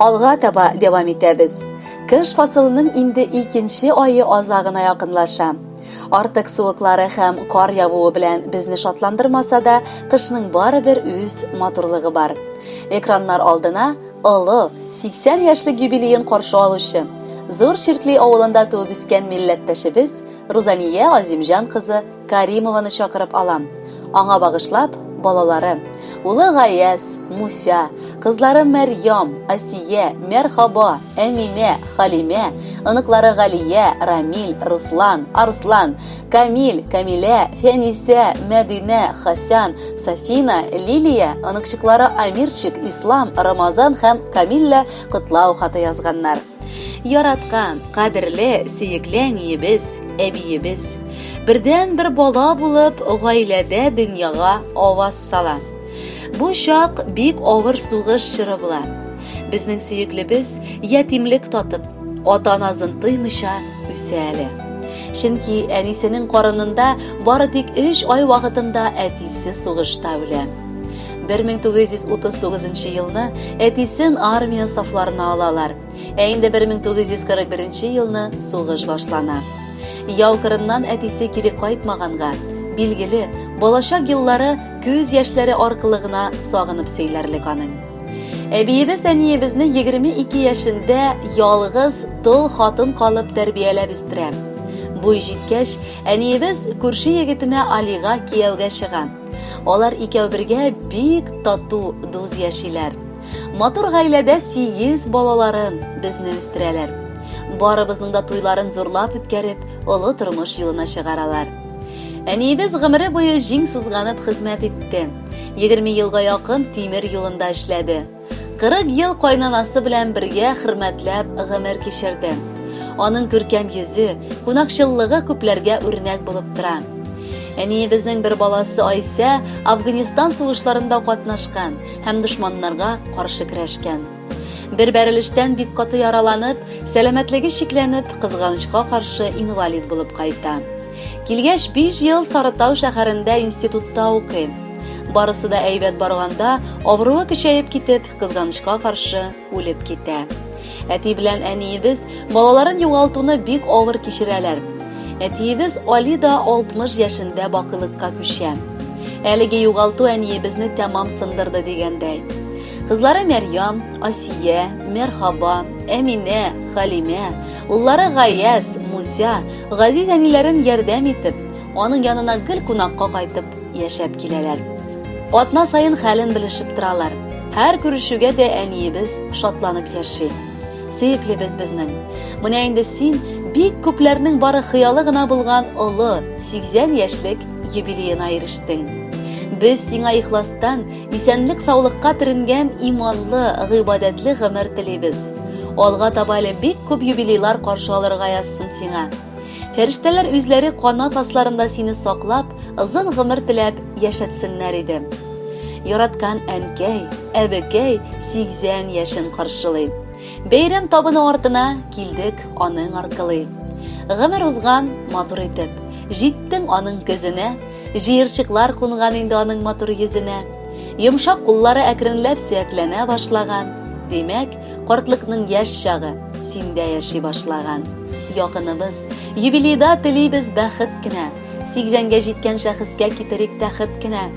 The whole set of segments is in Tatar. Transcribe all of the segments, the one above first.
Алга таба дәвам итәбез. Кыш фасылының инде икенче ае азагына якынлаша. Артык суыклары һәм кар явуы белән безне шатландырмаса да, кышның барыбер үз матурлыгы бар. Экраннар алдына олы 80 яшьлек юбилеен каршы алучы, Зур Ширкли авылында туып үскән милләттәшебез Рузания Азимҗан кызы Каримованы чакырып алам. Аңа багышлап, балалары, улы Гаяз, Муся, кызлары Мәрьям, Асия, Мәрхаба, Әминә, Халимә, оныклары Галия, Рамил, Руслан, Арслан, Камил, Камилә, Фәнисә, Мәдинә, Хасан, Сафина, Лилия, оныкчыклары Амирчик, Ислам, Рамазан һәм Камилла котлау хаты язганнар. Яраткан, кадерле, сөекле әниебез, әбиебез. Бердән бер бала булып, гаиләдә дөньяга аваз сала. Бу чак бик авыр сугыш чоры була. Безнең сөеклебез ятимлек татып, ата назын тоймыйча үсә әле. Чөнки әнисенең карынында бары тик 3 ай вакытында әтисе сугышта үлә. 1939 елны әтисен армия сафларына алалар. Ә инде 1941 елны сугыш башлана. Яу кырыннан әтисе кире кайтмаганга, билгеле, балачак еллары күз яшьләре аркылы гына сагынып сөйләрлек аның. Әбиебез әниебезне 22 яшендә ялгыз тол хатын калып тәрбияләп үстерә. Буй җиткәч, әниебез күрше егетенә Алига кияүгә чыга. Алар икәү бергә бик тату дуз яшиләр. Матур гаиләдә сигез балаларын безне үстерәләр. Барыбызның да туйларын зурлап үткәреп, олы тормыш юлына чыгаралар. Әниебез гомере буе җиң сызганып хезмәт итте. 20 елга якын тимер юлында эшләде. 40 ел кайнанасы белән бергә хөрмәтләп гомер кичерде. Аның күркәм йөзе, кунакчыллыгы күпләргә үрнәк булып тора. Әниебезнең бер баласы Айсә Афганистан сугышларында катнашкан һәм дошманнарга каршы көрәшкән. Бер бәрелештән бик каты яраланып, сәламәтлеге чикләнеп, кызганычка каршы инвалид булып кайта. Килгәч, биш ел Сарытау шәһәрендә институтта укыйм. Барысы да әйбәт барганда, авыруы көчәеп китеп, кызганычка каршы, үлеп китә. Әти белән әниебез балаларын югалтуны бик авыр кичерәләр. Әтиебез Али да 60 яшендә бакылыкка күчә. Әлеге югалту әниебезне тәмам сындырды дигәндәй. Кызлары Мәрьям, Асия, Мәрхаба, Әминә, Халимә, Уллары Гаяз, Муся, газиз әниләрен ярдәм итеп, аның янына гел кунакка кайтып яшәп киләләр. Атна саен хәлен белешеп торалар. Һәр күрешүгә дә әниебез шатланып яши. Сөеклебез безнең. Менә инде син бик күпләрнең бары хыялы гына булган олы 80 яшьлек юбилеена ирештең. Без сиңа ихластан исәнлек-саулыкка төренгән иманлы, гыйбадәтле гомер телибез. Алга таба әле бик күп юбилейлар каршы алырга язсын сиңа. Фәрештәләр үзләре канат асларында сине саклап, озын гомер теләп яшәтсеннәр иде. Яраткан әнкәй, әбекәй 80 яшен каршылый. Бәйрәм табыны артына килдек аның аркылы. Гомер узган матур итеп, җиттең аның көзенә, Җыерчыклар кунган инде аның матур йөзенә. Йомшак куллары әкренләп сөякләнә башлаган. Димәк, картлыкның яшь чагы синдә яши башлаган. Якыныбыз, юбилейда телибез бәхет кенә. 80гә җиткән шәхескә китерик тәхет кенә.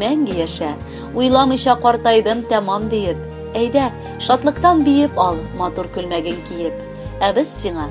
Мәңге яшә, уйламыйча картайдым тәмам диеп. Әйдә, шатлыктан биеп ал, матур күлмәген киеп. Ә без сиңа